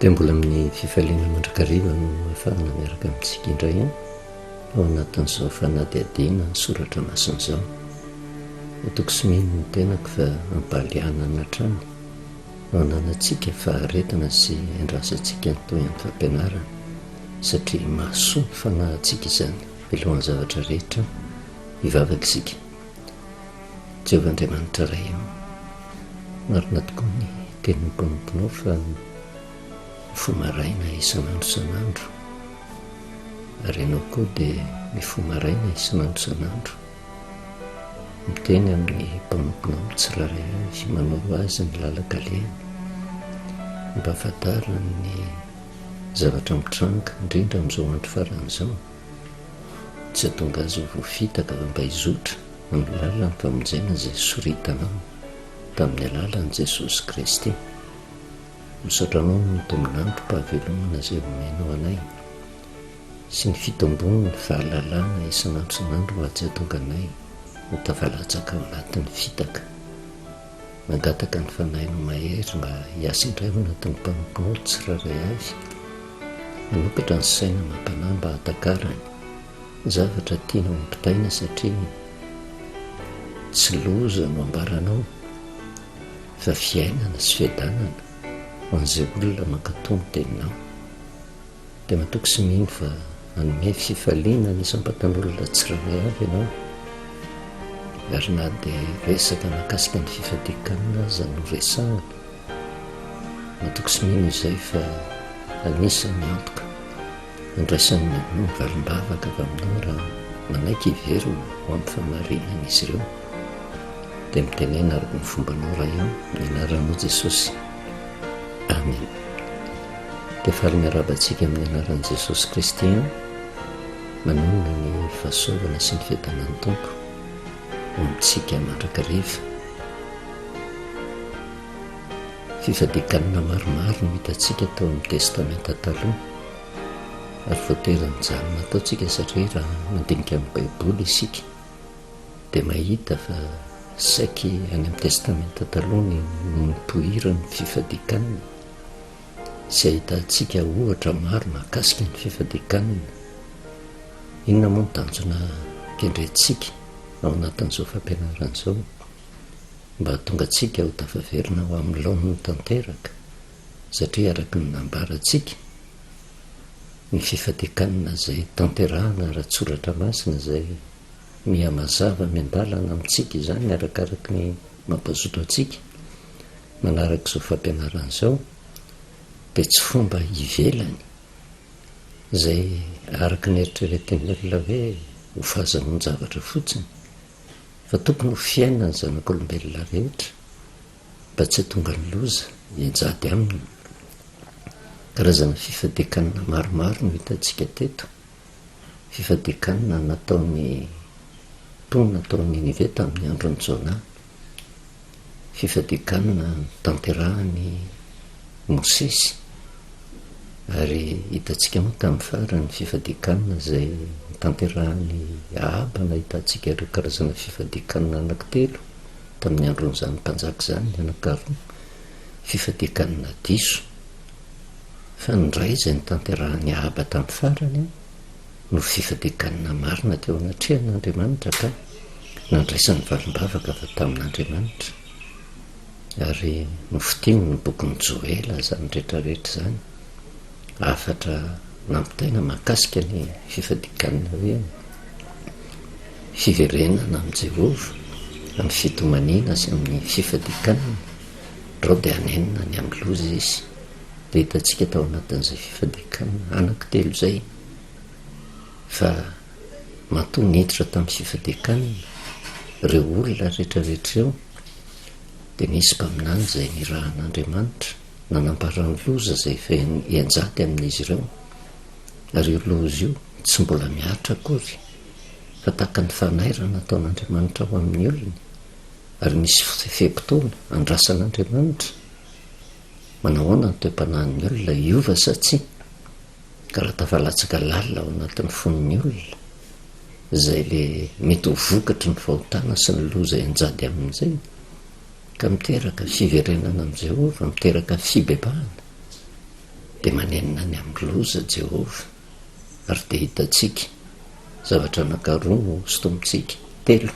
dia mbola amin'ny fifaliana mandrakariva no afahana miaraka amintsika indray an ao anatin'izao fanadihadiana ny soratra masina izao atoko sy mino ny tenako fa ampaliana ny hatrany no ananantsika faharetana sy andrasantsika ny toy amin'ny fampianarana satria mahasoa ny fanahintsika izany milohan'ny zavatra rehetra hivavaka isika Jehovah Andriamanitra Ray aho, marina tokoa ny tenin'ny mpanomponao fa ny fo maraina isan'andro isan'andro, ary ianao koa dia ny fo maraina isan'andro isan'andro, miteny amin'ny mpanomponao amin'ny tsirairay avy, manoro azy ny lalan-kalehany, ampahafantariny ny zavatra mitranga, indrindra amin'izao andro farany izao. Tsy atonga azy ho voafitaka fa mba hizotra amin'ny lalan'ny famonjena izay soritanao tamin'ny alalan'i Jesosy Kristy. Misaotra Anao amin'ny tombon'androm-pahavelomana izay omenao anay sy ny fitombon'ny fahalalana isan'andro isan'andro mba tsy hahatonga anay ho tafalatsaka ao anatin'ny fitaka. Nangataka ny Fanahinao Mahery mba hiasa indray ao anatin'ny mpanomponao tsirairay avy. Manokatra ny saina amam-panahy mba hahatakarany ny zavatra tianao hampitaina satria tsy loza no ambaranao fa fiainana sy fiadanana ho an'izay olona mankatò ny Teninao. dia matoky sy mino fa hanome fifaliana ny isam-batan'olona tsirairay avy ianao, ary na dia resaka mahakasika ny fifadian-kanina aza no resahana, matoky sy mino izay fa anisan'ny antoka handraisan'ny mamono valim-bavaka avy aminao raha manaiky hiverina ho amin'ny fahamarinana izy ireo, dia mitenena araka ny fombanao Ray ô, amin'ny anaran'i Jesosy. Amen. Dia faly miarahaba antsika amin'ny anaran'i Jesosy Kristy an. Manonona ny fahasoavana sy ny fiadanan'ny Tompo ho amintsika mandrakariva. Fifadian-kanina maromaro no hitantsika tao amin'ny Testamenta Taloha ary voatery mijanona ataontsika satria raha mandinika ny Baiboly isika dia mahita fa saiky any amin'ny Testamenta Taloha no notohiran'ny fifadikanana sy ahitantsika ohatra maro mahakasika ny fifadikanana. Inona moa ny tanjona kendrentsika ao anatin'izao fampianarana izao? Mba hahatonga antsika ho tafaverina ho amin'ny laoniny tanteraka satria araka ny nambarantsika ny fifatekanna izay tanterahana ara-tsoratra masina izay miha mazava miandalana amintsika izany arakaraky ny mampazoto antsika manaraka izao fampianarana izao dia tsy fomba ivelany izay araka ny eritreretin'ny olona hoe ho fahazahoan-javatra fotsiny fa tokony ho fiainan'ny zanak'olombelona rehetra mba tsy hahatonga ny loza hijady aminy. Karazana fifadian-kanina maromaro no hitantsika teto, fifadian-kanina nataon'ny mponina tao Ninive tamin'ny andron'i Jona, fifadian-kanina notanterahan'i Mosesy, ary hitantsika moa tamin'ny farany fifadian-kanina izay notanterahan'i Ahaba, nahitantsika ireo karazana fifadian-kanina anankitelo. tamin'ny andron'izany mpanjaka izany ny anankiroa, fifadian-kanina diso. Fa ny iray izay notanterahan'i Ahaba tamin'ny farany no fifadian-kanina marina teo anatrehan'Andriamanitra ka nandraisany valim-bavaka avy tamin'Andriamanitra. Ary nofitiny ny bokin'i Joela izany rehetra rehetra izany. Hafatra nampitaina mahakasika ny fifadikan'ny hoe Fiverenana amin'i Jehovah amin'ny fitomaniana sy amin'ny fifadikanana, Drao dia hanenina ny amin'ny loza izy. Dia hitantsika tao anatin'izay fifadikanana anankitelo izay fa matoa niditra tamin'ny fifadikanana ireo olona rehetrarehetra ireo, dia nisy mpaminany izay nirahan'Andriamanitra. Nanambara ny loza izay feno ianjady amin'izy ireo, ary io loza io tsy mbola mihatra akory, fa tahaka ny fanairana ataon'Andriamanitra ho amin'ny olony, ary misy fe-potoana andrasan'Andriamanitra. Manahoana ny toe-panahin'ny olona? Hiova sa tsia? Ka raha tafalatsaka lalina ao anatin'ny fon'ny olona izay ilay mety ho vokatry ny fahotana sy ny loza ianjady amin'izay, ka miteraka fiverenana amin'i Jehovah, miteraka fibebahana, dia manenina any amin'ny loza Jehovah, ary dia hitantsika zavatra anankaroa hosintomintsika, telo,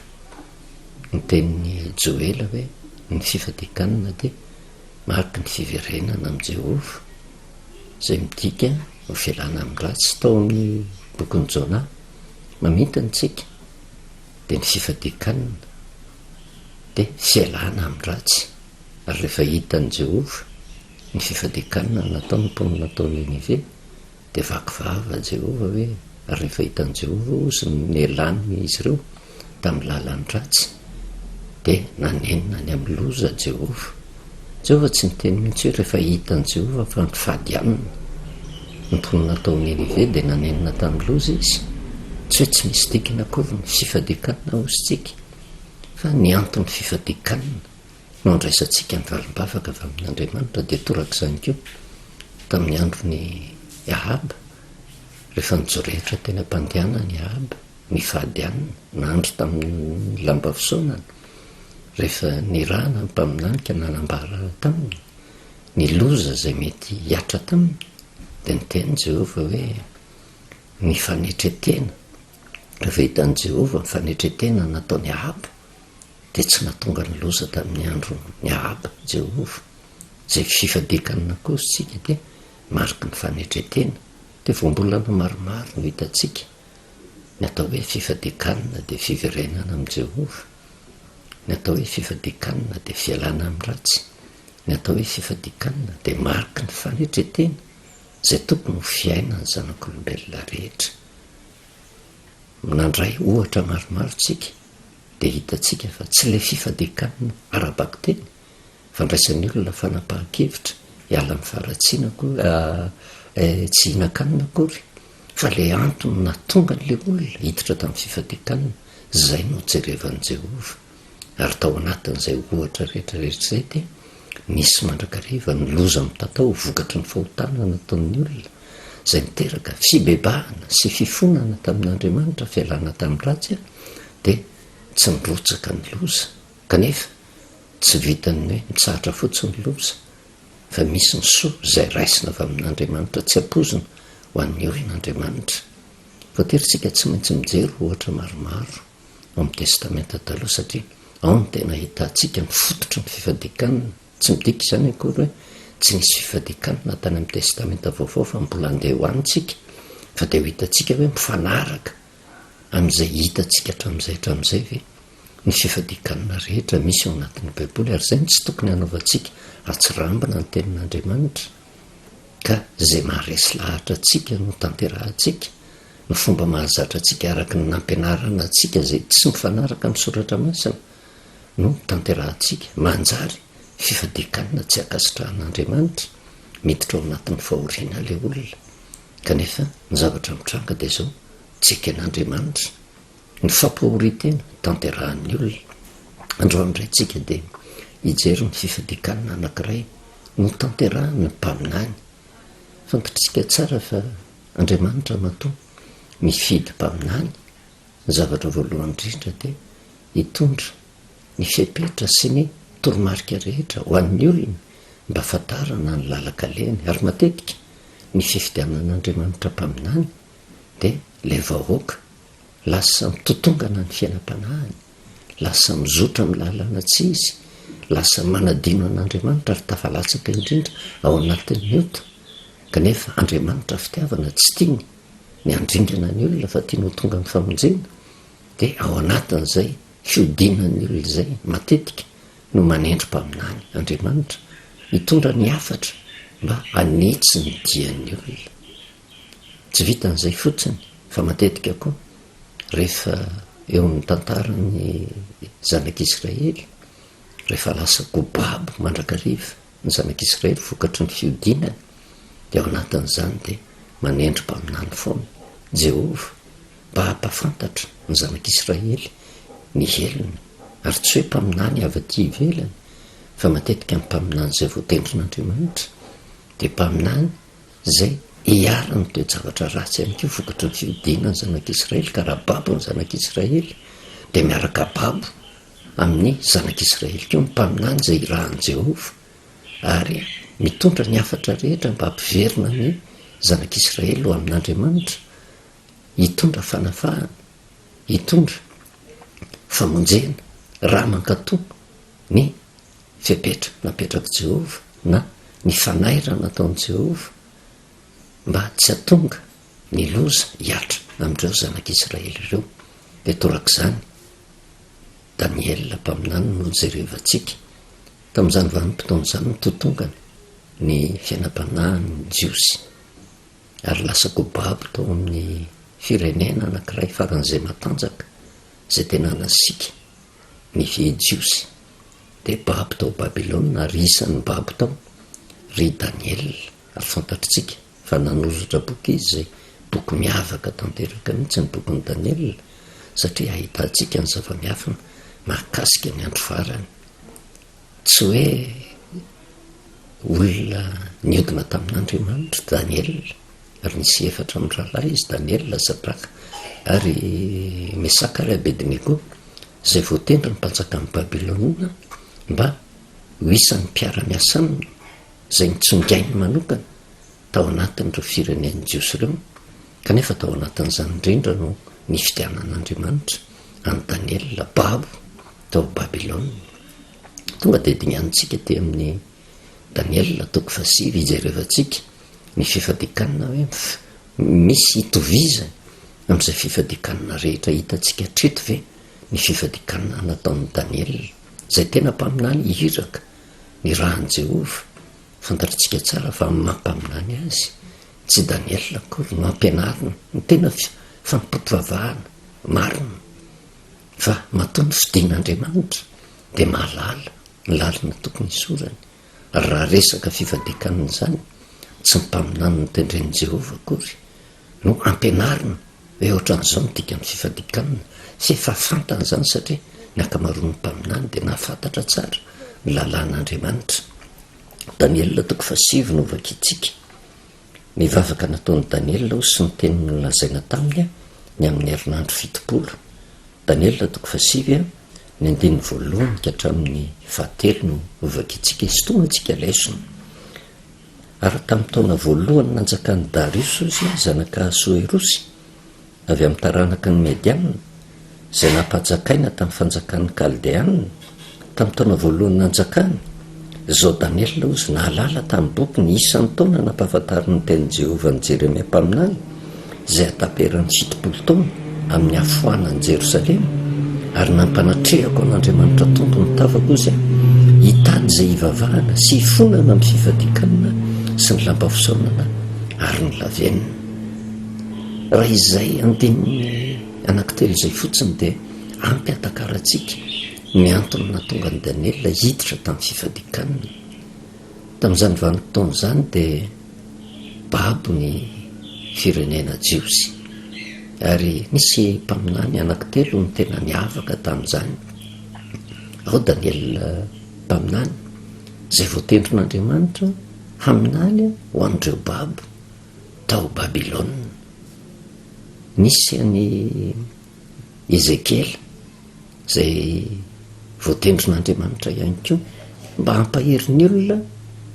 ny tenin'i Joela hoe ny fifadian-kanina dia mariky ny fiverenana amin'i Jehovah, izay midika ho fialana amin'ny ratsy, tao amin'ny bokin'i Jona, mamintona antsika, dia ny fifadian-kanina. dia tsy ialana amin'ny ratsy, ary rehefa hitan'i Jehovah ny fifadian-kanina nataon'ny mponina tao Ninive, dia vaky vava Jehovah hoe, Ary rehefa hitan'i Jehovah ozy ny nialan'izy ireo tamin'ny lalan'ny ratsy, dia nanenina any amin'ny loza Jehovah. Jehovah tsy niteny mihitsy hoe rehefa hitan'i Jehovah fa nifadianina ny mponina tao Ninive dia nanenina tamin'ny loza izy. Tsy hoe tsy misy dikany akory ny fifadian-kanina ozintsika. Fa ny anton'ny fifadian-kanina no andraisantsika ny valim-bavaka avy amin' Andriamanitra dia toraka izany koa tamin'ny andron' i Ahaba, rehefa nijorehitra teny am-pandehanan' i Ahaba nifady ann' andry tamin'ny lamba fisaonana, rehefa nirahana ny mpaminany ka nanambara taminy ny loza izay mety hiatra taminy, dia niteny Jehovah hoe, Mifanetre tena Rehefa hitan'i Jehovah ny fanetren-tena nataon'i Ahaba, dia tsy nahatonga ny loza tamin'ny andron'i Ahaba i Jehovah. Izay fifadian-kanina akorontsika dia mariky ny fanetren-tena. Dia voambolana maromaro no hitantsika. Ny atao hoe fifadian-kanina dia fiverenana amin'i Jehovah. Ny atao hoe fifadian-kanina dia fialana amin'ny ratsy. Ny atao hoe fifadian-kanina dia mariky ny fanetren-tena izay tokony ho fiainan'ny zanak'olombelona rehetra. nandray ohatra maromaro tsika dia hitantsika fa tsy ilay fifadian-kanina ara-bakiteny fandraisan'ny olona fanapahan-kevitra hiala amin'ny faharatsiana akory, tsy hihinan-kanina akory, fa ilay antony nahatonga an'ilay olona hiditra tamin'ny fifadian-kanina, izay no jerevan'i Jehovah. ary tao anatin'izay ohatra rehetra rehetra izay dia nisy mandrakariva ny loza mitatao vokatry ny fahotana nataon'ny olona, izay niteraka fibebahana sy fifonana tamin'Andriamanitra, fialana tamin'ny ratsy, dia tsy nirotsaka ny loza. Kanefa, tsy vitan'ny hoe mitsahatra fotsiny ny loza, fa misy ny soa izay raisina avy amin'Andriamanitra, tsy ampoizina ho an'ny orin'Andriamanitra. Voatery isika tsy maintsy mijery ohatra maromaro. amin'ny Testamenta Taloha, satria ao no tena ahitantsika ny fototry ny fifadian-kanina. Tsy midika izany akory hoe tsy nisy fifadian-kanina tany amin'ny Testamenta Vaovao, fa mbola handeha ho any isika, fa dia ho hitantsika hoe mifanaraka amin'izay hitantsika hatramin'izay hatramin'izay ve ny fifadian-kanina rehetra misy ao anatin'ny Baiboly, ary izay no tsy tokony hanaovantsika hatsirambina ny Tenin'Andriamanitra. ka izay maharesy lahatra antsika no tanterahantsika, ny fomba mahazatra antsika araka ny nampianarana antsika izay tsy mifanaraka amin'ny soratra masina no tanterahantsika, manjary fifadian-kanina tsy ankasitrahan'Andriamanitra, miditra ao anatin'ny fahoriana ilay olona, kanefa ny zavatra mitranga dia izao, tsy eken'Andriamanitra. Ny fampahorian-tena tanterahan'ny olona. Androany indray tsika dia hijery ny fifadian-kanina anankiray notanterahan'ny mpaminany. Fantatr'isika tsara fa Andriamanitra matoa mifidy mpaminany, ny zavatra voalohany indrindra dia hitondra ny fepetra sy ny toromarika rehetra ho an'ny olona mba hahafantarana ny lalan-kaleny. Ary matetika ny fifidianan'Andriamanitra mpaminany dia ilay vahoaka lasa mitotongana ny fiainam-panahiny, lasa mizotra amin'ny lalana tsy izy, lasa manadino an'Andriamanitra ary tafalatsaka indrindra ao anatin'ny ota, kanefa Andriamanitra fitiavana tsy tiany ny handringana ny olona fa tiany ho tonga amin'ny famonjena, dia ao anatin'izay fihodinan'ny olona izay matetika no manendry mpaminany Andriamanitra hitondra ny hafatra mba hanitsy ny dian'ny olona. Tsy vitan'izay fotsiny fa matetika koa rehefa eo amin'ny tantaran'ny zanak'Israely, rehefa lasa gobabo mandrakariva ny zanak'Israely vokatry ny fiodinany, dia ao anatin'izany dia manendry mpaminany foana Jehovah mba hampahafantatra ny zanak'Israely ny helony, ary tsy hoe mpaminany avy aty ivelany fa matetika ny mpaminany izay voatendrin'Andriamanitra dia mpaminany Izay iharan'ny toe-javatra ratsy ihany koa vokatry ny fihodinana ny zanak'Israely ka raha babo ny zanak'Israely dia miaraka babo amin'ny zanak'Israely koa ny mpaminany izay irahan'i Jehovah ary mitondra ny hafatra rehetra mba hampiverina ny zanak'Israely ho amin'Andriamanitra, hitondra fanafahana, hitondra famonjena raha mankatò ny fepetra napetrak'i Jehovah na ny fanairana nataon'i Jehovah mba tsy hahatonga ny loza hihatra amin'ireo zanak'Israely ireo, dia torak'izany Daniela mpaminany no nojerevantsika. Tamin'izany vanim-potoana izany no totongany ny fiainam-panahin'ny Jiosy, ary lasa kobabo tao amin'ny firenena anankiray faran'izay matanjaka izay tena nasiaka ny Jiosy. dia babo tao Babylona, ry isan'ny babo tao, ry Daniela, ary fantatritsika fa nanoratra boky izy, izay boky miavaka tanteraka mihitsy ny bokin'i Daniela, satria ahitantsika ny zava-miafina mahakasika ny andro farany. Tsy hoe olona niodina tamin'Andriamanitra Daniela. Ary nisy efatra amin'ny rahalahy izy, Daniela, Zadraka, ary Mesaka ary Abednego, izay voatendry ny mpanjakan'i Babylona mba ho isan'ny mpiara-miasa aminy, izay nitsongainy manokana tao anatin'ireo firenen'ny Jiosy ireo, kanefa tao anatin'izany indrindra no nifidianan'Andriamanitra an'i Daniela, babo, tao Babylona. Tonga dia dinganintsika aty amin'ny Daniela, toko fahasivy, hijerevantsika Ny fifadikanana hoe misy itovizany amin'izay fifadikanana rehetra hitantsika hatreto ve ny fifadikanana nataon'i Daniela, izay tena mpaminany iraka nirahan'i Jehovah? Fantatritsika tsara fa amin'ny maha-mpaminany azy, tsy Daniela akory no ampianariny ny tena fanompoam-pivavahana marina, fa matoa ny fidin'Andriamanitra dia mahalala ny lalana tokony hisorany. Raha resaka fifadian-kanina izany, tsy ny mpaminany notendren'i Jehovah akory no ampianarina hoe hoatran'izao no dikan'ny fifadian-kanina, fa efa fantany izany satria ny ankamaroan'ny mpaminany dia nahafantatra tsara ny lalàn'Andriamanitra. Daniela toko fahasivy no hovakintsika. Nivavaka nataon'i Daniela aho sy ny teny nolazaina taminy aho ny amin'ny herinandro fitopolo. Daniela toko fahasivy a, ny andininy voalohany ka hatramin'ny fahatelo no hovakiantsika hisintomana antsika lesona. Ary tamin'ny taona voalohany nanjakan'i Dariosy Ozy zanak'Ahasoerosy, avy amin'ny taranaka ny Medianina, izay nampajakaina tamin'ny fanjakan'ny Kaldeanina, Tamin'ny taona voalohany nanjakany, izao Daniela hozy nahalala tamin'ny boky ny isan'ny taona nampahafantarin'ny tenin'i Jehovah an'i Jeremia mpaminany, izay hataperan'ny fitopolo taona amin'ny hafoanan'i Jerosalema, ary nampanatrehako an'Andriamanitra Tompo ny tavako hozy aho, hitady izay hivavahana sy hifonana amin'ny fifadian-kanina sy ny lamba fisaonana ary ny lavenona. Raha izay andininy anankitelo izay fotsiny dia. Ampy ahatakarantsika ny antony nahatonga an'i Daniela hiditra tamin'ny fifadian-kanina. Tamin'izany vanim-potoana izany dia babo ny firenena jiosy, ary nisy mpaminany anankitelo no tena niavaka tamin'izany. Ao Daniela mpaminany, izay voatendrin'Andriamanitra haminany ho an'ireo babo tao Babylona. Nisy an'i Ezekiela, izay voatendrin'Andriamanitra ihany koa mba hampahery ny olona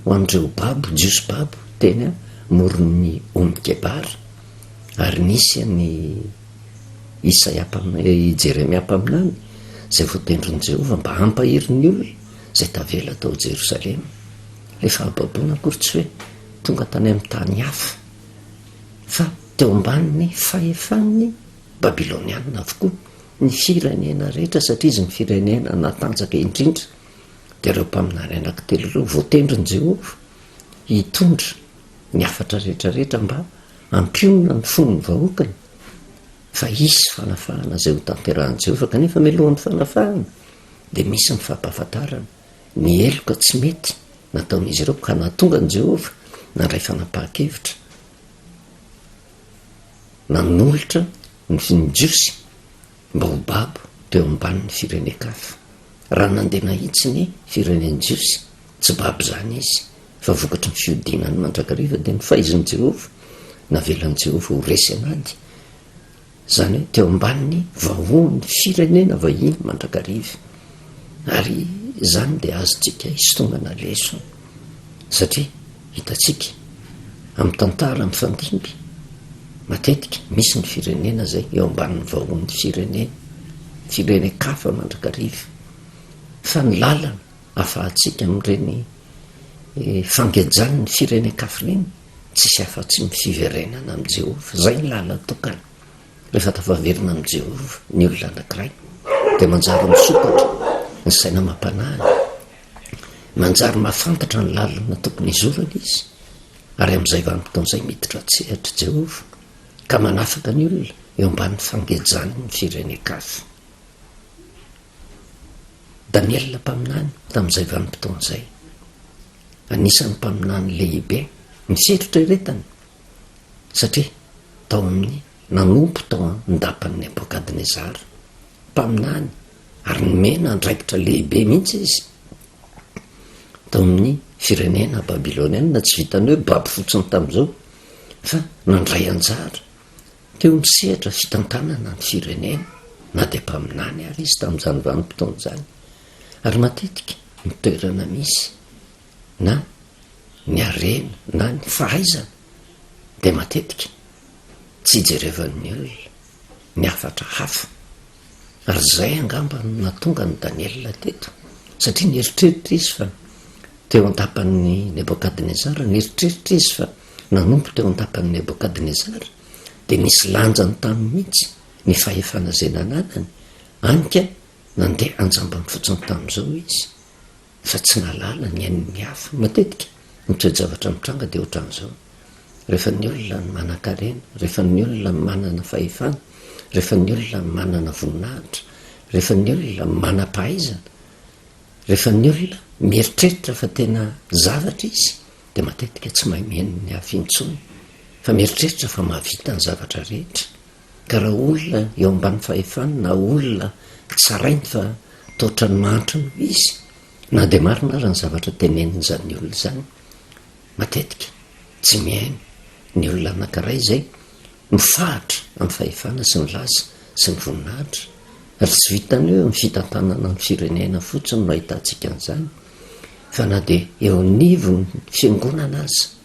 ho an'ireo babo, Jiosy babo, teny amoron'ny ony Kebara, ary nisy an'i Isaia, i Jeremia mpaminany, izay voatendrin'i Jehovah mba hampahery ny olona izay tavela tao Jerosalema. Ilay fahababoana akory tsy hoe tonga tany amin'ny tany hafa, fa teo ambanin'ny fahefan'ny Babylonianina avokoa ny firenena rehetra satria izy ny firenena natanjaka indrindra. Dia ireo mpaminany anankitelo ireo voatendrin'i Jehovah hitondra ny hafatra rehetrarehetra mba hampionona ny fon'ny vahoakany fa hisy fanafahana izay hotanterahin'i Jehovah. Kanefa mialohan'ny fanafahana dia misy ny fampahafantarana ny heloka tsy mety nataon'izy ireo ka nahatonga an'i Jehovah nandray fanapahan-kevitra. nanolotra ny finin'ny Jiosy mba ho babo teo ambanin'ny firenen-kafa. Raha nandeha nahitsy ny firenen'ny Jiosy, tsy babo izany izy, fa vokatry ny fihodinany mandrakariva, dia nofaizin'i Jehovah, navelan'i Jehovah ho resy an'ady. izany hoe teo ambanin'ny vahoan'ny firenena vahiny mandrakariva, ary izany dia azontsika isitongana lesona, satria hitantsika amin'ny tantara mifandimby matetika misy ny firenena izay eo ambanin'ny vahoan'ny firenena, firenen-kafa mandrakariva, fa ny lalana ahafahantsika amin'ireny fangejan'ny firenen-kafa ireny, Tsisy afa-tsy ny fiverenana amin'i Jehovah. Izay ny lalana tokana. Rehefa tafaverina amin'i Jehovah ny olona anankiray, dia manjary misokatra ny saina amam-panahiny. Manjary mahafantatra ny lalana tokony hizorany izy, ary amin'izay vanim-potoana izay miditra an-tsehatr'i Jehovah, ka manafaka ny olona eo ambanin'ny fangejany ny firenen-kafa. Daniela mpaminany tamin'izay vanim-potoana izay. Anisan'ny mpaminany lehibe ny setrotra eretany satria tao amin'ny nanompo tao an-dapan'i Nebokadnezara. Mpaminany ary nomena andraikitra lehibe mihitsy izy tao amin'ny firenena babylonianina, tsy vitan'ny hoe Baby fotsiny tamin'izao fa nandray anjara teo amin'ny sehatra fitantanana ny firenena na dia mpaminany ary izy tamin'izany vanim-potoana izany. Ary matetika ny toerana misy na ny harena na ny fahaizana dia matetika tsy ijerevan'ny olona ny hafatra hafa. Ary izay angamba no nahatonga an'i Daniela teto, satria nieritreritra izy fa teo an-tapan'i Nebokadnezara, nieritreritra izy fa nanompo teo an-tapan'i Nebokadnezara, dia nisy lanjany taminy mihitsy ny fahefana izay nananany, hany ka, Nandeha an-jambany fotsiny tamin'izao izy fa tsy nahalala ny ain'ny hafa. Matetika, ny toe-javatra mitranga dia ohatran'izao, rehefa ny olona no manan-karena, rehefa ny olona no manana fahefana, rehefa ny olona no manana voninahitra, rehefa ny olona no manam-pahaizana, rehefa ny olona mieritreritra fa tena zavatra izy dia matetika tsy mahay mihaino ny hafa intsony fa mieritreritra fa mahavita ny zavatra rehetra. Ka raha olona eo ambany fahefany na olona tsarainy fa taotrany mahantra no izy, na dia marina aza ny zavatra tenenin'izany olona izany, matetika tsy mihaino ny olona anankiray izay mifahatra amin'ny fahefana sy ny laza sy ny voninahitra, ary tsy vitan'ny hoe amin'ny fitantanana ny firenena fotsiny no ahitantsika an'izany, fa na dia eo anivon'ny fiangonana aza.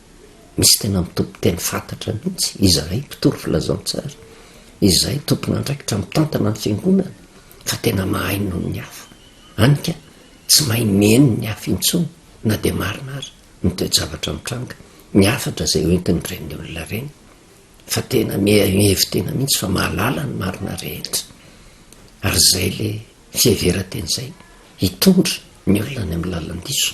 Misy tena mitompo teny fantatra mihitsy izahay mpitory filazantsara, izahay tompon'andraikitra mitantana ny fiangonana fa tena mahay noho ny hafa. Any ka, tsy mahay mihaino ny hafa intsony na dia marina ary ny toe-javatra mitranga. Ny hafatra izay hoentin'ireny olona ireny fa tena mihevi-tena mihitsy fa mahalala ny marina rehetra. Ary izay ilay fiheveran-teny izay hitondra ny olona any amin'ny lalan-diso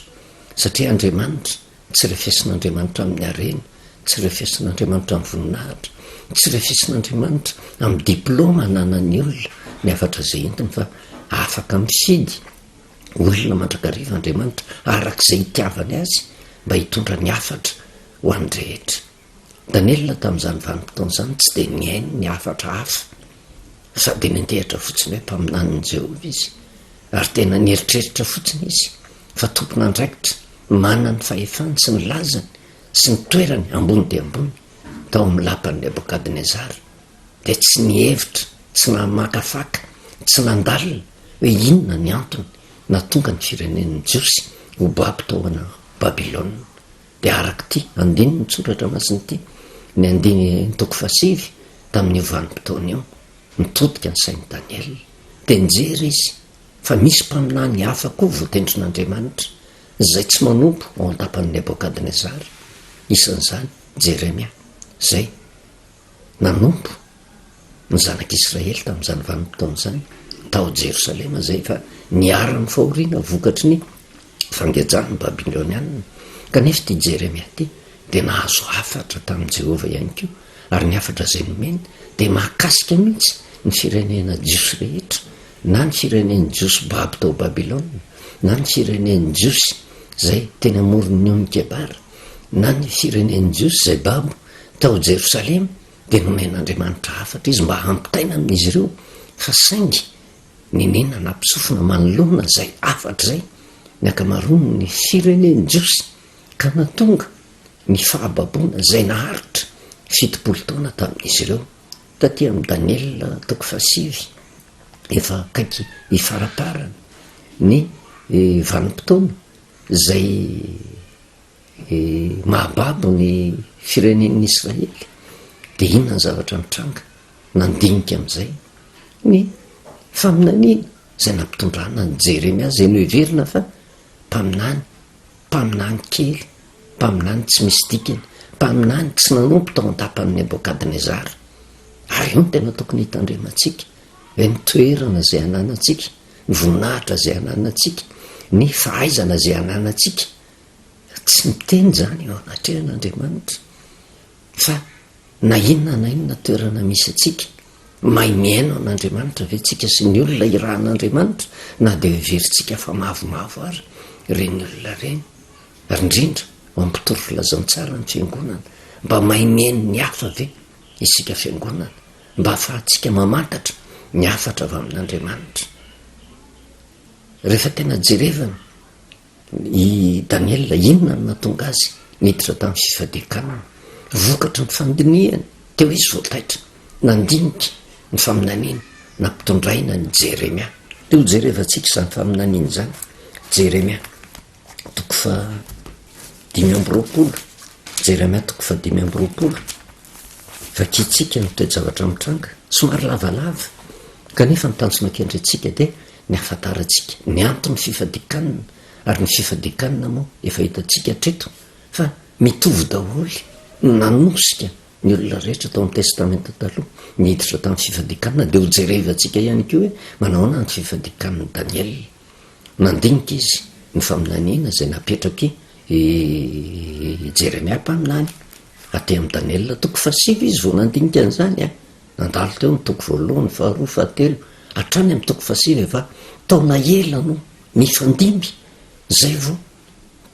satria Andriamanitra Tsy refesin'Andriamanitra amin'ny harena, tsy refesin'Andriamanitra amin'ny voninahitra, tsy refesin'Andriamanitra amin'ny diplaoma ananan'ny olona, ny hafatra izay entiny fa afaka mifidy olona mandrakariva Andriamanitra araka izay itiavany azy mba hitondra ny hafatra ho an'ny rehetra. Daniela tamin'izany vanim-potoana izany tsy dia nihaino ny hafatra hafa, fa dia nentehatra fotsiny hoe mpaminanin'i Jehovah izy, ary tena nieritreritra fotsiny izy fa tompon'andraikitra manan'ny fahefany sy ny lazany sy ny toerany ambony dia ambony tao amin'ny lapan'i Nebokadnezara. Dia tsy nihevitra, tsy namakafaka, tsy nandalina hoe inona ny antony nahatonga ny firenen'ny Jiosy ho babo tao Babylona. dia arak'ity andininy tsoratra masina ity, ny andiny toko fahasivy, tamin'io vanim-potoana io, nitodika ny sain'i Daniela, dia nijery izy fa misy mpaminany hafa koa voatendrin'Andriamanitra, izay tsy manompo ao an-tapan'i Nebokadnezara, isan'izany Jeremia, izay. nanompo ny zanak'Israely tamin'izany vanim-potoana izany tao Jerosalema izay efa niharan'ny fahoriana vokatry ny fangejan'ny Babylonianina, kanefa ity Jeremia ity dia nahazo hafatra tamin'i Jehovah ihany koa, ary ny hafatra izay nomeny dia mahakasika mihitsy ny firenena jiosy rehetra, na ny firenen'ny Jiosy babo tao Babylona, na ny firenen'ny Jiosy izay teny amoron'ny ony Kebara, na ny firenen'ny Jiosy izay babo Tao Jerosalema dia nomen'Andriamanitra hafatra izy mba hampitaina amin'izy ireo fa saingy nenena nampisofina manoloana izay hafatra izay ny ankamaroan'ny firenen jiosy ka nahatonga ny fahababoana izay naharitra fitopolo taona tamin'izy ireo. Taty amin'ny Daniela toko fahasivy efa akaiky hifaraparana ny vanim-potoana izay Ny mahababo ny firenen'ny Israely dia inona ny zavatra nitranga nandinika amin'izay? Ny faminaniana izay nampitondrana an'i Jeremia izay noheverina fa mpaminany, mpaminany kely, mpaminany tsy misy dikany, mpaminany tsy nanompo tao an-tapan'i Nebokadnezara. Ary io no tena tokony hitandremantsika, hoe ny toerana izay ananantsika, ny voninahitra izay ananantsika, ny fahaizana izay ananantsika, Tsy miteny izany eo anatrehan' Andriamanitra fa na inona na inona toerana misy antsika, mahay mihaino an' Andriamanitra ve tsika sy ny olona irahan' Andriamanitra na dia heverintsika fa mavomavo ary ireny olona ireny ary indrindra ao amin'ny mpitory filazantsara ny fiangonana, mba mahay mihaino ny hafa ve isika fiangonana mba ahafahantsika mamantatra ny hafatra avy amin' Andriamanitra rehefa tena jerevana? I Daniela, inona no nahatonga azy niditra tamin'ny fifadian-kanina? Vokatry ny fandinihany, teo izy vao taitra nandinika ny faminaniana nampitondraina an'i Jeremia. Dia hojerevantsika izany faminaniana izany, Jeremia, toko fahadimy amby roapolo, Jeremia, toko fahadimy amby roapolo. Vakiantsika ny toe-javatra mitranga, somary lavalava, kanefa ny tanjona kendrentsika dia ny hahafantarantsika ny anton'ny fifadian-kanina, ary ny fifadian-kanina moa efa hitantsika hatreto fa mitovy daholo no nanosika ny olona rehetra tao amin'ny Testamenta Taloha niditra tamin'ny fifadian-kanina, dia hojerevantsika ihany koa hoe manahoana ny fifadian-kanin'i Daniela. Nandinika izy ny faminaniana izay napetrak' i Jeremia mpaminany aty amin' i Daniela. Toko fahasivy izy vao nandinika an' izany an! Nandalo teo ny toko voalohany, faharoa, fahatelo, hatrany amin' ny toko fahasivy fa taona ela no nifandimby izay vao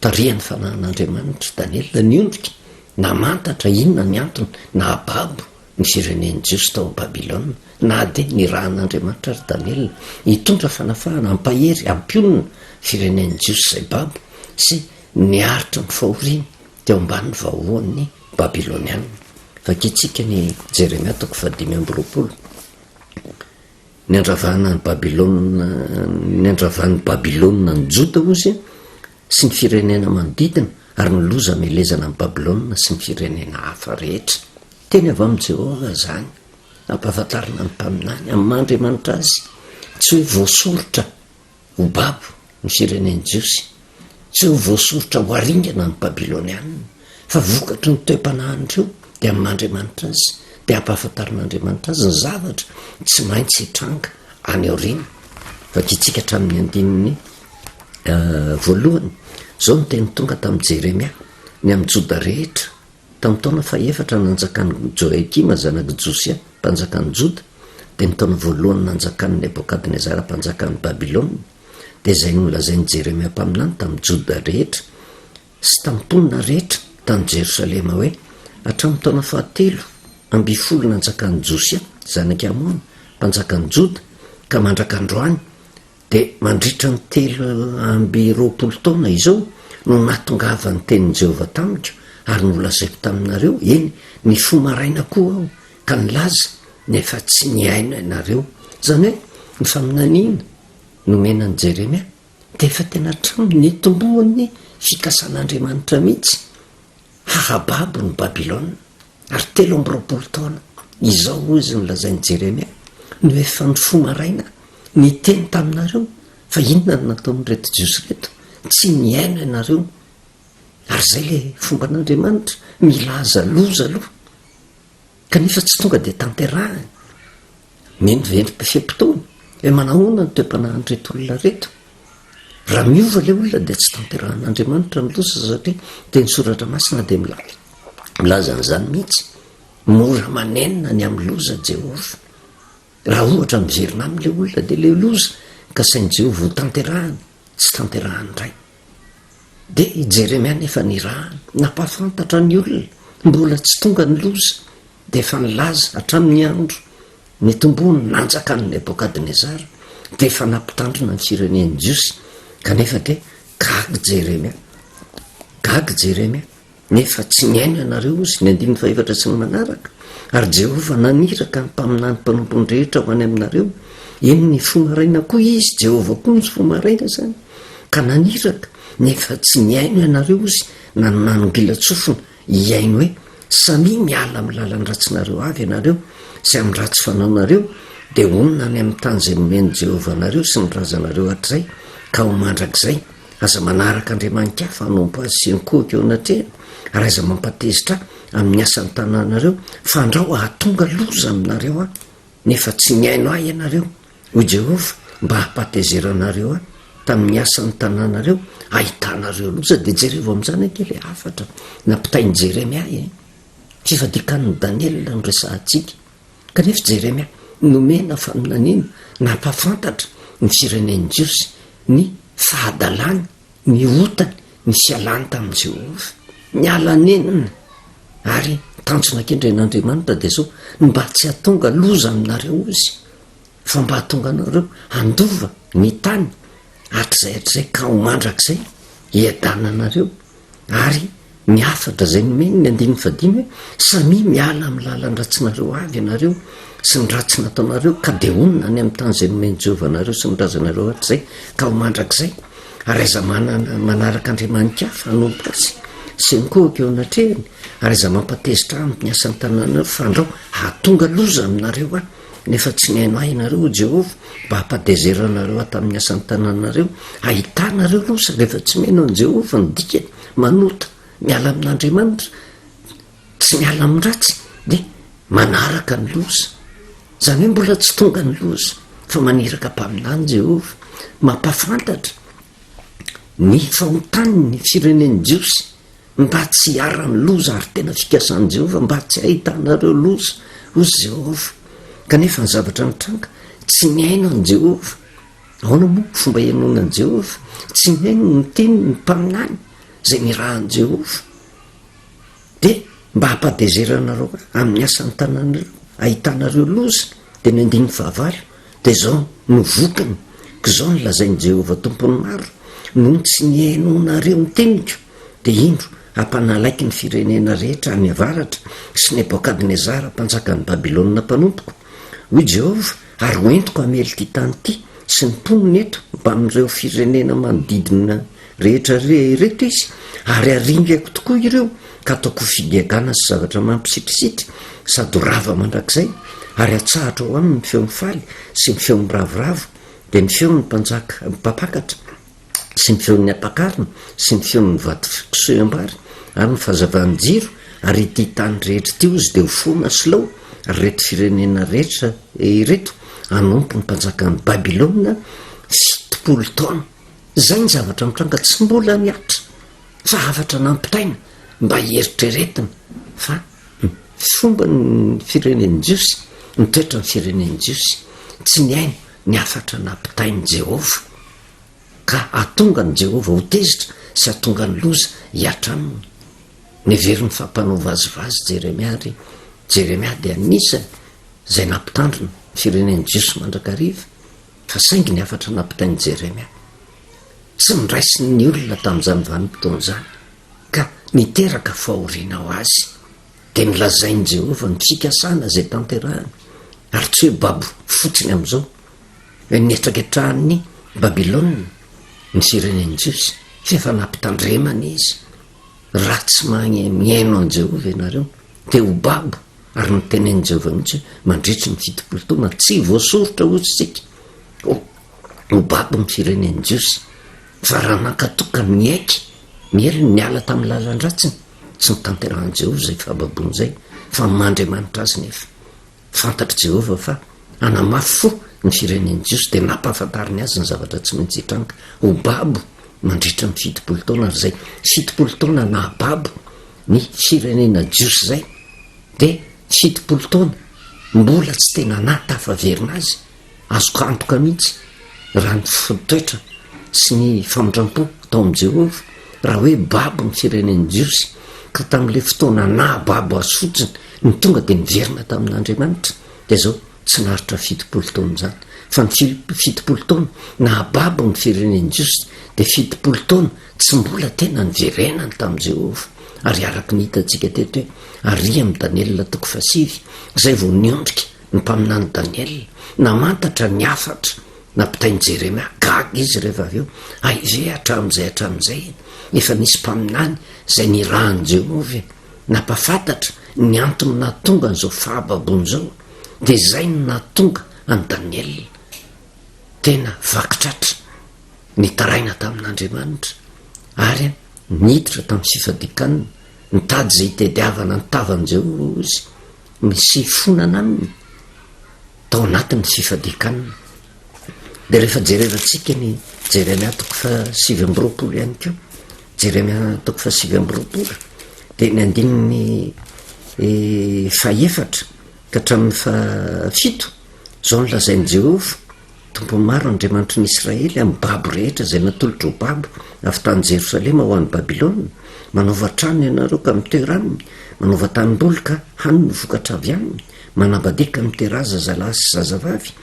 Tarihan'ny fanahin'Andriamanitra i Daniela niondrika namantatra inona ny antony nahababo ny firenen'ny Jiosy tao Babylona. Na dia nirahan'Andriamanitra àry Daniela hitondra fanafahana hampahery hampionona firenen'ny Jiosy izay babo sy niaritra ny fahoriany teo ambanin'ny vahohon'ny Babylonianina. Vakintsika ny Jeremia toko fahadimy amby roapolo. Niandravana an'i Babylona, niandravan'i Babylona ny Joda, hozy, sy ny firenena manodidina, ary ny loza hamelezana an'i Babylona sy ny firenena hafa rehetra. Teny avy amin'i Jehovah izany, ampahafantarina ny mpaminany amin'ny maha Andriamanitra azy, tsy hoe voasoritra. Ho babo ny firenen'ny Jiosy. Tsy ho voasoritra ho haringana ny Babylonianina, fa vokatry ny toe-panahin'ireo dia amin'ny Andriamanitra azy, dia hampahafantarin'Andriamanitra azy ny zavatra tsy maintsy hitranga any aoriana. Vakintsika hatramin'ny andininy voalohany. Izao no teny tonga tamin'i Jeremia, Ny amin'ny Joda rehetra, Tamin'ny taona fahefatra nanjakan'i Joiakima zanak'i Josia mpanjakan'i Joda, dia ny taona voalohany nanjakan'i Nebokadnezara mpanjakan'i Babylona, dia izay nolazain'i Jeremia mpaminany tamin'ny Joda rehetra sy tamin'ny mponina rehetra tany Jerosalema hoe, Hatramin'ny taona fahatelo amby folo nanjakan'i Josia zanak'i Amona mpanjakan'i Joda ka mandrak'androany, Dia mandritra ny telo amby roapolo taona izao no nahatongavan'ny tenin'i Jehovah tamiko, ary nolazaiko taminareo, eny, nifoha maraina koa aho ka nilaza, nefa tsy nihaino ianareo. Izany hoe, ny faminaniana nomena an'i Jeremia dia efa tena hatramin'ny nitomboan'ny fikasan'Andriamanitra mihitsy. Hahababo ny Babylona, ary telo amby roapolo taona. Izao hoy izy nolazain'i Jeremia, No efa nifoha maraina, niteny taminareo, fa inona no nataon'ireto Jiosy ireto? Tsy nihaino ianareo. Ary izay ilay fomban'Andriamanitra, milaza loza aloha. Kanefa tsy tonga dia tanterahiny. Mino ve ny fe-potoana? Hoe manahoana ny toe-panahin'ireto olona ireto? Raha miova ilay olona dia tsy tanterahan'Andriamanitra ny loza satria teny soratra masina dia milaza milaza an'izany mihitsy. Mora manenina ny amin'ny loza Jehovah. Raha ohatra miverina aminy ilay olona dia ilay loza ka sain'i Jehovah ho tanterahany, tsy tanterahany indray. Dia i Jeremia anefa nirahana. Nampahafantatra ny olona mbola tsy tonga ny loza, dia efa nilaza hatramin'ny andro nitomboan'ny nanjaka an'i Nebokadnezara, dia efa nampitandrina ny firenen'ny Jiosy, kanefa dia gaga Jeremia. Gaga Jeremia. Nefa tsy niaina ianareo, hozy, ny andininy fahefatra sy ny manaraka, ary Jehovah naniraka ny mpaminany mpanompony rehetra ho any aminareo, eny, ny fo maraina koa izy, Jehovah koa ny fo maraina izany, ka naniraka, nefa tsy nihaino ianareo, hozy, na ny nanongilan-tsofina hihaino hoe, Samia miala amin'ny lalan'ny ratsinareo avy ianareo sy amin'ny ratsy fanaonareo, dia honina any amin'ny tany izay nomen'i Jehovah anareo sy ny razanareo hatrizay ka ho mandrakizay. Aza manaraka andriamani-kafa hanompo azy sy ny kohiko eo anatrehany, ary aza mampatezitra ahy amin'ny asan'ny tananareo, fa andrao hahatonga loza aminareo aho, nefa tsy nihaino ahy ianareo, hoy Jehovah, mba hampatezeranareo ahy tamin'ny asan'ny tananareo hahitanareo loza. Dia jerevo amin'izany ange ilay hafatra nampitain'i Jeremia e! Fifadikan'i Daniela no resahantsika. Kanefa Jeremia nomena faminaniana nampahafantatra ny firenen'ny Jiosy ny fahadalany, ny otany, ny fialany tamin'i Jehovah. Niala nenina ary tanjona kendren'Andriamanitra dia izao, ny mba tsy hahatonga loza aminareo izy. fa mba hahatonga anareo handova ny tany hatrizay hatrizay ka ho mandrakizay hiadananareo, ary ny hafatra izay nomeny ny andininy fahadimy hoe, samia miala amin'ny lalan-dratsinareo avy ianareo sy ny ratsy nataonareo ka dia honina any amin'ny tany izay nomen'i Jehovah anareo sy ny razanareo hatrizay ka ho mandrakizay, ary aza manana manaraka andriamani-kafa hanompo azy sy mikohoka eo anatrehany, ary aza mampatezitra aminy ny asan-tananareo, fandrao hahatonga loza aminareo aho. nefa tsy nihaino ahy ianareo, hoy Jehovah, mba hampadezera anareo ahy tamin'ny asan'ny tananareo. Hahita anareo aloha sao dia efa tsy mihaino an'i Jehovah. Ny dikany, manota, miala amin'Andriamanitra. Tsy miala amin'ny ratsy, dia manaraka ny loza. Izany hoe mbola tsy tonga ny loza, fa maniraka mpaminany Jehovah. Mampahafantatra ny fahotany ny firenen'ny Jiosy. mba tsy hiharan'ny loza ary tena fikasan'i Jehovah mba tsy hahitanareo loza, hoy Jehovah. Kanefa ny zavatra nitranga, tsy nihaino an'i Jehovah. Ahoana moa no fomba hihainoana an'i Jehovah? Tsy nihaino ny teniny ny mpaminany izay nirahan'i Jehovah. Dia mba hampadezerana anareo amin'ny asan'ny tananareo, hahitanareo loza, dia ny andininy fahavalo, Dia izao no vokany, k'izao no lazain'i Jehovah Tompon'ny maro, Noho ny tsy nihainoanareo ny teniko, dia indro, hampanalaiky ny firenena rehetra any avaratra sy Nebôkadnezara mpanjakan'i Babylona mpanompoko, hoy Jehovah, ary hoentiko hamely ity tany ity sy ny mponiny eto mbamin'ireo firenena manodidina rehetra ireto izy, ary aringako tokoa ireo ka ataoko ho figagana sy zavatra mampisitrisitrry sady ho rava mandrakizay, ary atsahatra ao aminy ny feon'ny faly sy ny feon'ny ravoravo, dia ny feon'ny mpanjaka mpampakatra sy ny feon'ny ampakarina sy ny feon'ny vato fisoham-bary ary ny fahazavan'ny jiro, ary ity tany rehetra ity ozy dia ho fona sy lao, ary ireto firenena rehetra ireto hanompo ny mpanjakan'i Babylona fitopolo taona. Izay ny zavatra mitranga tsy mbola nihatra, zavatra nampitaina mba hieritreretina fa ny fomba ny firenen'ny Jiosy, ny toetran'ny firenen'ny Jiosy, tsy nihaino ny hafatra nampitain'i Jehovah, ka hahatonga an'i Jehovah ho tezitra sy hahatonga ny loza hihatra aminy. Neveriny fa mpanao vazivazy Jeremia, ary Jeremia dia anisan'ny izay nampitandrina ny firenen'ny Jiosy mandrakariva. Fa saingy ny hafatra nampitain'i Jeremia tsy noraisin' ny olona tamin' izany vanim-potoana izany ka niteraka fahoriana ho azy, dia nolazain'i Jehovah ny fikasana izay tanterahiny, ary tsy hoe babo fotsiny amin' izao, nihetraketrahan'ny Babilôna ny firenen'ny Jiosy, fa efa nampitandremany izy. Raha tsy mahay mihaino an'i Jehovah ianareo, dia ho babo, ary notenenin'i Jehovah mihitsy hoe mandritry ny fitopolo taona tsy voasoritra hozy isika, ho ho babo ny firenen'ny Jiosy. Fa raha nankatò ka niaiky ny heriny, niala tamin'ny lalan-dratsiny, tsy notanterahin'i Jehovah izay fahababoana izay, fa maha Andriamanitra azy nefa. Fantatr'i Jehovah fa hanamafy fo ny firenen'ny Jiosy, dia nampahafantariny azy ny zavatra tsy maintsy hitranga, ho babo mandritra ny fitopolo taona, ary izay fitopolo taona nahababo ny firenena jiosy izay, dia fitopolo taona mbola tsy tena nahatafaverina azy Azoko antoka mihitsy raha ny fotodraitra sy ny famindrampo atao amin'i Jehovah, raha hoe babo ny firenen'ny Jiosy, ka tamin'ilay fotoana naha-babo azy fotsiny no tonga dia niverina tamin'Andriamanitra, dia izao, tsy naharitra fitopolo taona izany. Fa ny fitopolo taona naha-babo ny firenen'ny Jiosy, dia fitopolo taona tsy mbola tena niverenany tamin'i Jehovah. Ary araka ny hitantsika teto hoe, Ary i amin'ny Daniela toko fahasivy, izay vao niondrika Ny mpaminany Daniela namantatra ny hafatra nampitain'i Jeremia. Gaga izy rehefa avy eo. Aiza e, hatramin'izay hatramin'izay efa nisy mpaminany izay nirahan'i Jehovah e! Nampahafantatra ny antony nahatonga an'izao fahababoana izao, dia izay no nahatonga an'i Daniela tena vaky tratra. Nitaraina tamin'Andriamanitra ary niditra tamin'ny fifadian-kanina. Nitady izay hitadiavana ny tavan'i Jehovah izy. ny sifonana aminy tao anatin'ny fifadian-kanina. Dia rehefa jerevantsika ny Jeremia toko fahasivy amby roapolo ihany koa, Jeremia toko fahasivy amby roapolo, dia ny andininy eh, fahefatra ka hatramin'ny fahafito, izao ny lazain'i Jehovah, Tompo maro, Andriamanitry ny Israely, amin'ny babo rehetra izay natolotry ho babo avy tany Jerosalema ho any Babylona, manaova trano ianareo ka mitoeira aminy, manaova tanimboly ka hany ny vokatra avy aminy, manambadia ka miteraha zazalahy sy zazavavy,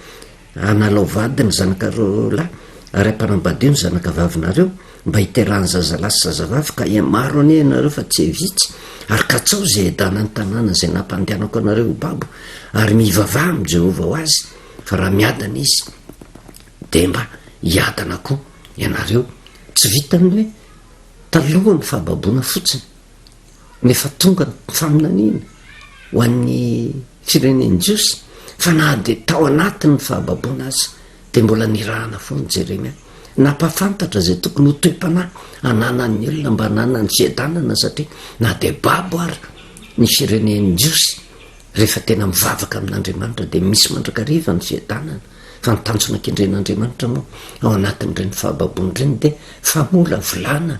hanalao vady ny zanakareo lahy ary hampanambadio ny zanakavavinareo mba hiterahany zazalahy sy zazavavy ka hihamaro anie ianareo fa tsy hivitsy, ary katsaho izay hiadana ny tanàna izay nampandehanako anareo ho babo, ary mivavaha amin'i Jehovah ho azy. Fa raha miadana izy dia mba hiadana koa ianareo, tsy vitan'ny hoe taloha ny fahababoana fotsiny nefa tonga ny faminaniana ho an'ny firenen'i Jiosy fa na dia tao anatin'ny fahababoana aza dia mbola nirahana foana Jeremia nampahafantatra izay tokony ho toe-panahy ananan'ny olona mba hananany fiadanana satria na dia babo ary ny firenen'i Jiosy Rehefa tena mivavaka amin'Andriamanitra dia misy mandrakariva ny fiadanana, fa ny tanjona kendren'Andriamanitra moa ao anatin'ireny fahababoana ireny dia famolavolana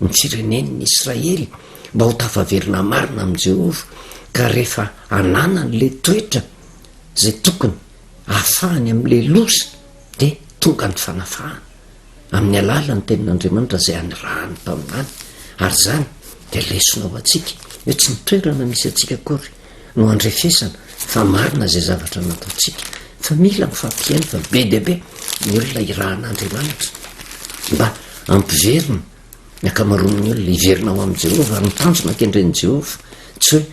ny firenen'ny Israely mba ho tafaverina marina amin'i Jehovah, ka rehefa ananany ilay toetra izay tokony ahafahany amin'ilay loza dia tonga ny fanafahana. amin'ny alalan'ny tenin'Andriamanitra izay anirahany taminany, ary izany dia lesona ho antsika hoe tsy ny toerana misy antsika akory no andrefesana fa marina izay zavatra nataontsika, fa mila mifampihaino fa be dia be ny olona irahan'Andriamanitra mba hampiverina ny ankamaroan'ny olona hiverina ho amin'i Jehovah ary ny tanjona kendren'i Jehovah tsy hoe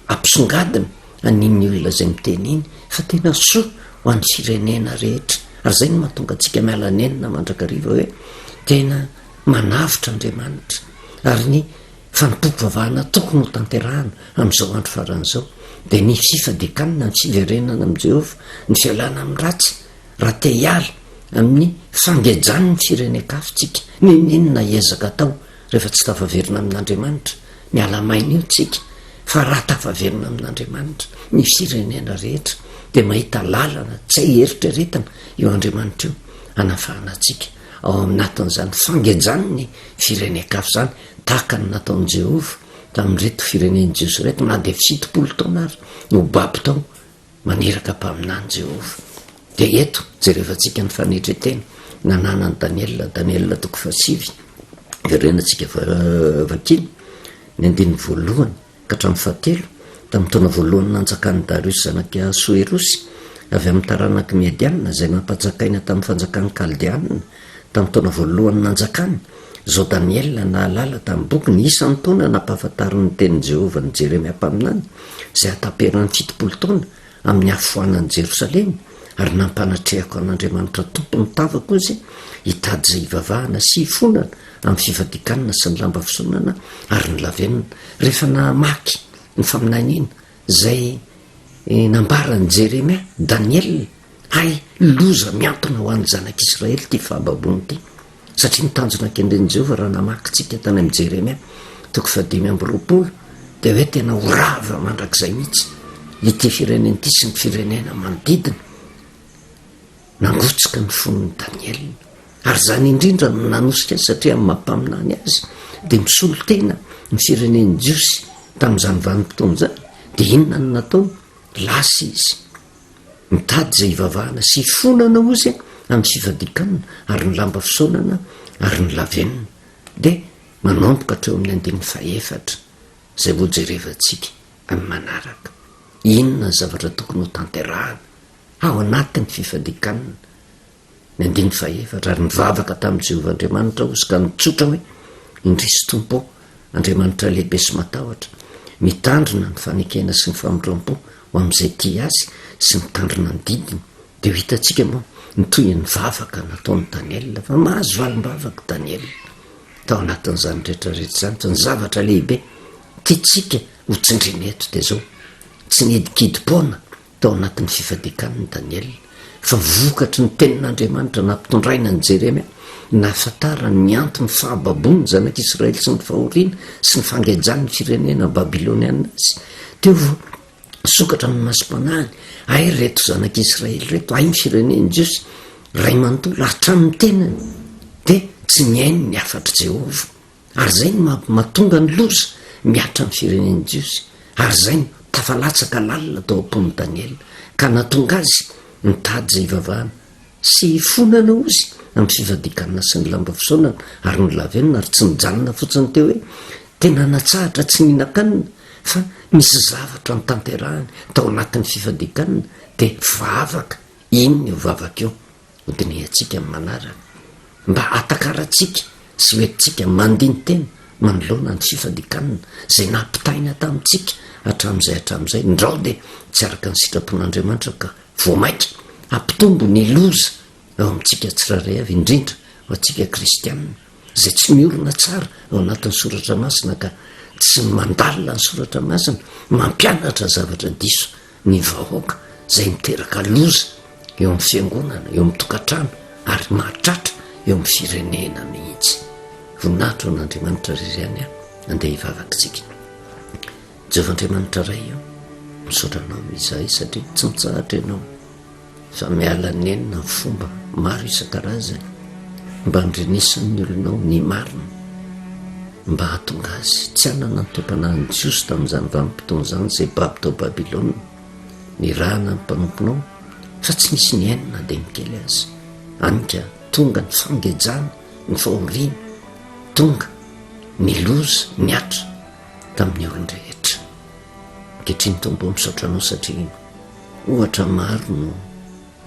hampisongadina Anin ny olona izay miteny iny fa tena soa ho an'ny firenena rehetra ary izay no mahatonga antsika miala nenina mandrakariva hoe tena manavotra Andriamanitra ary ny fanompoam-pivavahana tokony ho tanterahana amin'izao andro farany izao dia ny fifadikanana ny fiverenana amin'i Jehovah ny fialana amin'ny ratsy raha te hiala amin'ny fangejany ny firenen-kafotsika n'inon'inona ezaka atao Rehefa tsy tafaverina amin'Andriamanitra, miala main'io tsika, fa raha tafaverina amin'Andriamanitra, ny firenena rehetra, dia mahita lalana tsy hay eritreretina io Andriamanitra io, hanafahana antsika ao aminatin'izany fangenjany ny firenen-kafa izany, tahaka ny nataon'i Jehovah tamin'ireto firenen'i Jiosy ireto, na dia fitopolo taona ary no babo tao Maniraka mpaminany Jehovah. Dia eto, jerevantsika ny fanetren-tena nananan'i Daniela, Daniela toko fahasivy, iverenantsika vakiana ny andininy voalohany ka hatramin'ny fahatelo, tamin'ny taona voalohany nanjakan'i Dariosy zanak'i Ahasoerosy, avy amin'ny taranak'i Mediana, izay nampanjakaina tamin'ny fanjakan'ny Kaldeanina, Tamin'ny taona voalohany nanjakany, izao Daniela nahalala tamin'ny bokiny isan'ny taona nampahafantarin'ny tenin'i Jehovah an'i Jeremia mpaminany, izay hataperan'ny fitopolo taona amin'ny hahafoanan'i Jerosalema, ary nampanatrehako an'Andriamanitra Tompon'ny tavako izy hitady izay hivavahana sy hifonana amin'ny fifadikanana sy ny lamba fisonana ary ny lavenona. Rehefa namaky ny faminaniana izay nambaran'i Jeremia, Daniela, ary loza miantona ho an'ny zanak'Israely ity fahababoana ity, satria ny tanjona kendren'i Jehovah raha namaky isika tany amin'i Jeremia toko fahadimy amby roapolo dia hoe tena ho rava mandrakizay mihitsy ity firenena ity sy ny firenena manodidina. Nangotsika ny fon'i Daniela, ary izany indrindra no nanosika azy, satria amin'ny maha-mpaminany azy, dia misolo tena ny firenen'ny Jiosy tamin'izany vanim-potoana izany. Dia inona no nataony? Lasa izy nitady izay hivavahana sy hifonana, hozy, amin'ny fifadian-kanina ary ny lamba fisaonana ary ny lavenona. Dia manomboka hatreo amin'ny andininy fahefatra, izay hojerevantsika amin'ny manaraka. Inona ny zavatra tokony hotanterahana? ao anatin'ny fifadikanana, ny andininy fahefatra, ary nivavaka tamin'i Jehovah Andriamanitra aho, izy ka nitsotra hoe, Indrisy, Tompo ô, Andriamanitra lehibe sy matahotra, mitandrina ny fanekena sy ny famindrampo ho amin'izay tia azy sy mitandrina ny didiny, dia ho hitantsika moa ny tohin'ny vavaka nataon'i Daniela, fa mahazo valim-bavaka i Daniela tao anatin'izany rehetra rehetra izany, fa ny zavatra lehibe tiantsika hotsindriana eto dia izao, tsy nihidikidim-poana Tao anatin'ny fifadikaniny Daniela fa vokatry ny tenin'Andriamanitra nampitondraina an'i Jeremia, nahafantarany ny anton'ny fahababoan'ny zanak'Israely sy ny fahoriana sy ny fangejan'ny firenena babylonianina azy. Teo vao nisokatra amin'ny masom-panahiny, Hay ireto zanak'Israely ireto, hay ny fireneny jiosy, ray manontolo, hatramin'ny tenany dia tsy nihaino ny hafatr'i Jehovah. Ary zay no mahatonga ny loza mihatra ny firenen'ny Jiosy, ary izay no tafalatsaka lalina tao am-pon'i Daniela, ka nahatonga azy nitady izay hivavahana, sy hifonana ozy amin'ny fivadikanana sy ny lamba fisaonana, ary nolavenona, ary tsy nijanona fotsiny teo hoe tena natsahatra tsy nihinan-kanina, fa nisy zavatra notanterahany tao anatin'ny fivadikanana, dia vavaka, iny io vavaka io. Hodinihantsika amin'ny manaraka mba hatakarantsika sy ho entintsika mandini-tena manoloana ny tsy fandikàna izay nampitaina tamintsika hatramin'izay hatramin'izay. Ndrao dia tsy araka ny sitrapon'Andriamanitra ka vao mainka hampitombo ny loza ao amintsika tsirairay avy, indrindra ho antsika kristiana izay tsy miorina tsara ao anatin'ny Soratra Masina ka tsy mandalina ny Soratra Masina, mampianatra zavatra diso ny vahoaka izay miteraka loza eo amin'ny fiangonana, eo amin'ny tokantrano ary mahatratra eo amin'ny firenena mihitsy. Voninahitra ho an'Andriamanitra ry izany a, andeha hivavakitsika. Jehovah Andriamanitra Ray a, misaotra anao izahay satria tsy mitsahatra ianao. fa miala nenina ny fomba maro isan-karazany mba handrenesan'ny olona ao ny marina, mba hahatonga azy tsy hanana ny toe-panahin'ny Jiosy tamin'izany vanim-potoana izany izay babo tao Babylona. Nirahana ny mpanomponao fa tsy nisy nihaino na dia ny kely aza. Hany ka tonga ny fangejana, ny fahoriana, tonga ny loza, ny Atra tamin'ny olon-drehetra. Ankehitriny Tompo ô, misaotra Anao satria. Ohatra maro no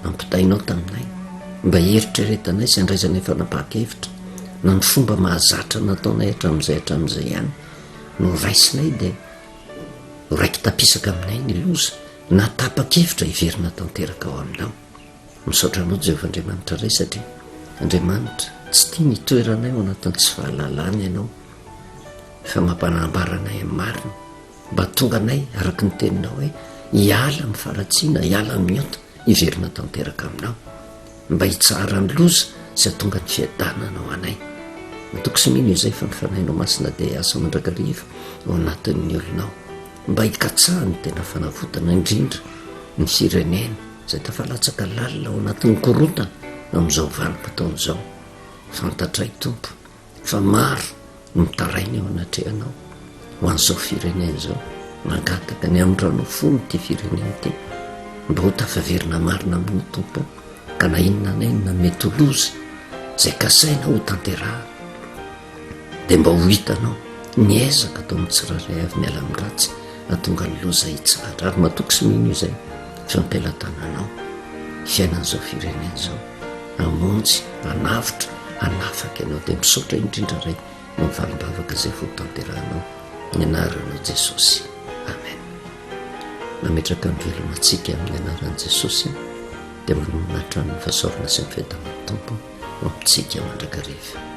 ampitainao taminay mba hieritreretanay sy handraisanay fanapahan-kevitra, na ny fomba mahazatra nataonay hatramin'izay hatramin'izay ihany no raisinay dia ho raiki-tapisaka aminay ny loza na tapa-kevitra hiverina tanteraka ao aminao. Misaotra anao Jehovah Andriamanitra Ray satria Andriamanitra tsy tia ny hitoeranay ao anatin'ny tsy fahalalana ianao fa mampanambara anay amin'ny marina Mba tonga anay araka ny teninao hoe hiala amin'ny faharatsiana, hiala amin'ny ota, hiverina tanteraka aminao. Mba hitsahara ny loza sy hatonga ny fiadanana ho anay. Matoky sy mino izay fa ny fanahinao masina dia hiasa mandrakariva ao anatin'ny olonao. Mba hikatsaha ny tena fanavotana indrindra ny firenena izay tafalatsaka lalina ao anatin'ny korontana amin'izao vanim-potoana izao. Fantatray Tompo. Fa maro no mitaraina eo anatrehanao ho an'izao firenena izao, mangataka ny amindranao fo ity firenena ity mba ho tafaverina marina amin'ny Tompo ka na inona na inona mety ho loza izay kasaina ho tanterahana dia mba ho hitanao ny ezaka atao amin'ny tsirairay avy miala amin'ny ratsy atonga ny loza hitsahatra ary matoky sy mino izay fampilatananao fiainan'izao firenena izao hamonjy, hanavotra, hanafaka ianao dia misaotra indrindra Ray noho ny valim-bavaka izay hotanterahanao ny anaranao Jesosy Amen nametraka ny velona antsika amin'ny anaran'i Jesosy dia manonona hatramin'ny fahasaorana sy ny fiadanan'ny Tompo ho amintsika mandrakariva